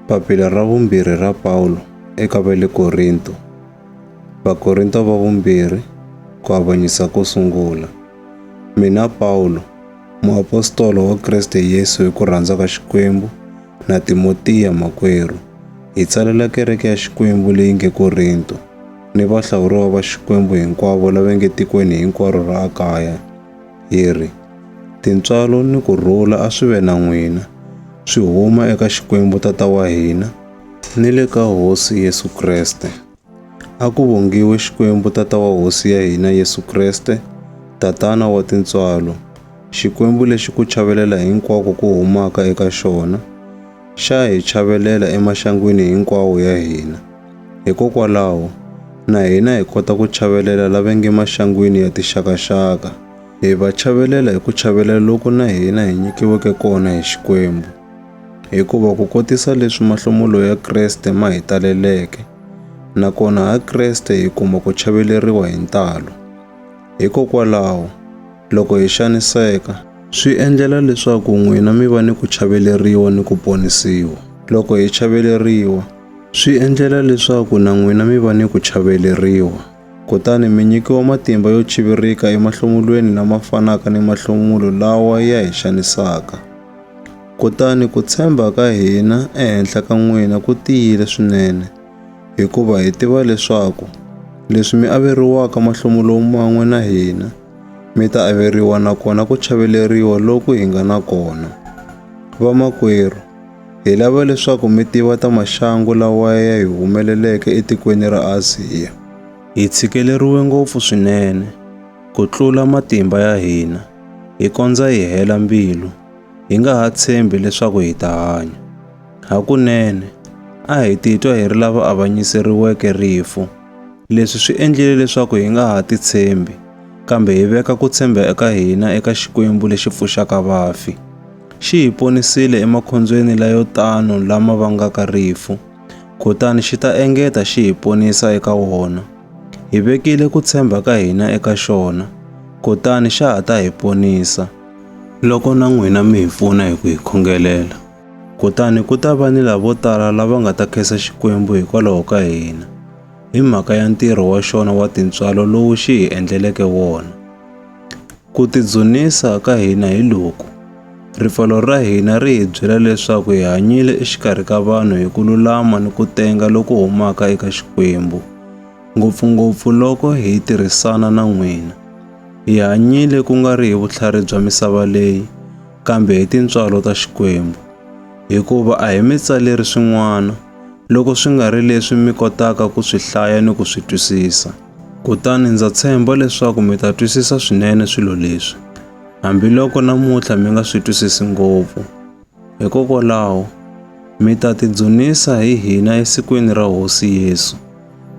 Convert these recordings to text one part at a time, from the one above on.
Papila ra vumbirhi ra Pawulo eka va le Korinto. Vakorinto va vumbirhi ku avanyisa ko sungula. Mina Pawulo, muapostolo wa Kriste Yesu hi ku rhandza ka Xikwembu, na Timotiya makwerhu, hi tsalela kereke ya Xikwembu leyi nge Korinto, ni vahlawuriwa va Xikwembu hinkwavo lava nge tikweni hinkwaro ra Akaya. hi ri, Tintswalo ni ku rhula a swi ve na n'wina, swi huma eka Xikwembu Tata wa hina ni le ka Hosi Yesu Kreste. A ku vongiwe Xikwembu Tata wa Hosi ya hina Yesu Kreste, Tatana wa tintswalo, Xikwembu lexi ku chavelela hinkwako ku humaka eka xona xa hi chavelela emaxangwini hinkwawo ya hina. Hikokwalaho, na hina hi kota ku chavelela lava nge maxangwini ya tixakaxaka. Hi va chavelela hi ku chavelela loku na hina hi nyikiweke kona hi Xikwembu. Hikuva ku kotisa leswi mahlomulo ya Kreste ma hi taleleke, nakona ha Kreste hi kuma ku chaveleriwa hi ntalo. Hikokwalaho, loko hi xaniseka, swi endlela leswaku n'wina mi va ni ku chaveleriwa ni ku ponisiwa. Loko hi chaveleriwa, Swi endlela leswaku na n'wina mi va ni ku chaveleriwa, kutani mi nyikiwa matimba yo chivirika emahlomulweni lama fanaka ni mahlomulo lawa ya hi xanisaka. Kutani ku tshemba ka hina ehenhla ka n'wina ku tiyile swinene, hikuva hi tiva leswaku leswi mi averiwaka mahlomulo man'we na hina, mi ta averiwa na kona ku chaveleriwa loku hi nga na kona. Vamakwerhu, Hi lava leswaku mi tiva ta maxangu lawa ya hi humeleleke etikweni ra Aziya. Hi tshikeleriwe ngopfu swinene ku tlula matimba ya hina, hi kondza hi hela mbilu, hi nga ha tshembi leswaku hi ta hanya. Hakunene, a hi titwa hi ri lava avanyiseriweke rifu. Leswi swi endlile leswaku hi nga ha titshembi, kambe hi veka ku tshemba eka hina eka Xikwembu lexi pfuxaka vafi. Xi hi ponisile emakhondzweni layo tano lama vangaka rifu, kutani xi ta engeta xi hi ponisa eka wona. Hi vekile ku tshemba ka hina eka xona, kutani xa ha ta hi ponisa. Loko na n'wina mi hi pfuna hi ku hi khongelela, Kutani ku ta va ni lavo tala lava nga ta khensa Xikwembu hikwalaho ka hina, hi mhaka ya ntirho wa xona wa tintswalo lowu xi hi endleleke wona. Ku tidzunisa ka hina hi loku, ripfalo ra hina ri hi byela leswaku hi hanyile exikarhi ka vanhu hi ku lulama ni ku tenga loku humaka eka Xikwembu, ngopfungopfu loko hi tirhisana na n'wina. Hi hanyile ku nga ri hi vutlhari bya misava leyi, kambe hi tintswalo ta Xikwembu. Hikuva a hi mi tsaleri swin'wana, loko swi nga ri leswi mi kotaka ku swi hlaya ni ku swi twisisa. Kutani ndza tshemba leswaku mi ta twisisa swinene swilo leswi, hambiloko namuntlha mi nga swi twisisi ngopfu. Hikokwalaho, mi ta tidzunisa hi hina esikwini ra Hosi Yesu,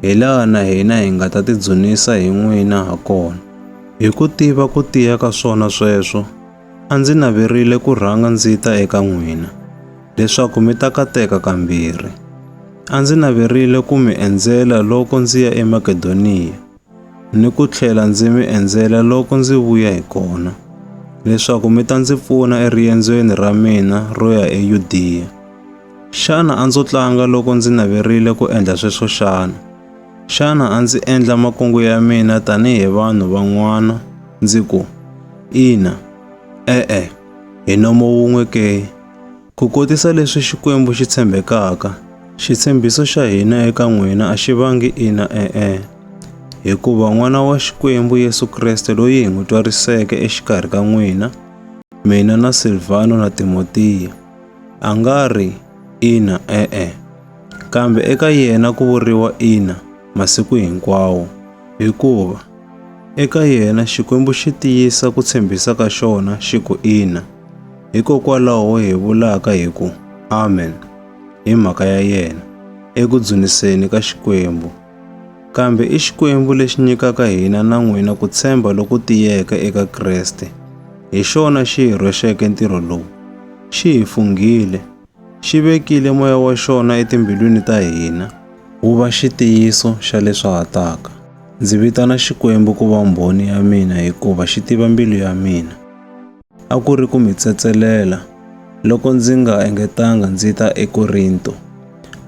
hi laha na hina hi nga ta tidzunisa hi n'wina ha kona. Hi ku tiva ku tiya ka swona sweswo, A ndzi naverile ku rhanga ndzi ta eka n'wina, leswaku mi ta kateka kambirhi. A ndzi naverile ku mi endzela loko ndzi ya eMakedoniya, ni ku tlhela ndzi mi endzela loko ndzi vuya hi kona, leswaku mi ta ndzi pfuna eriendzweni ra mina ro ya eYudiya. Xana a ndzo tlanga loko ndzi naverile ku endla sweswo xana? Xana a ndzi endla makungu ya mina tanihi vanhu van'wana ndzi ku, Ina, e-e, hi nomo wun'we ke? Ku kotisa leswi Xikwembu xi tshembekaka, xitshembiso xa hina eka n'wina a xi vangi ina e-e, hikuva N'wana wa Xikwembu Yesu Kreste loyi hi n'wi twariseke exikarhi ka n'wina, mina na Silvano na Timotiya, a nga ri ina e-e. Kambe eka yena ku vuriwa ina masiku hinkwawo, hikuva eka yena Xikwembu xi tiyisa ku tshembisa ka xona xi ku ina. Hikokwalaho hi vulaka hi ku amen hi mhaka ya yena eku dzuniseni ka Xikwembu. Kambe i Xikwembu lexi nyikaka hina na n'wina ku tshemba loku tiyeke eka Kreste. Hi xona xi hi rhwexeke ntirho lowu, xi hi funghile xi vekile moya wa xona etimbilwini ta hina wu va xitiyiso xa leswi ha taka. Ndzi vitana Xikwembu ku va mbhoni ya mina hikuva xi tiva mbilu ya mina. A ku ri ku mi tsetselela loko ndzi nga engetanga ndzi ta eKorinto,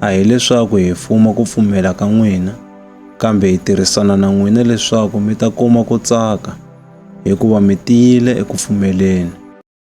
a hi leswaku hi fuma ku pfumela ka n'wina, kambe hi tirhisana na n'wina leswaku mi ta kuma ku tsaka, hikuva mi tiyile eku pfumeleni.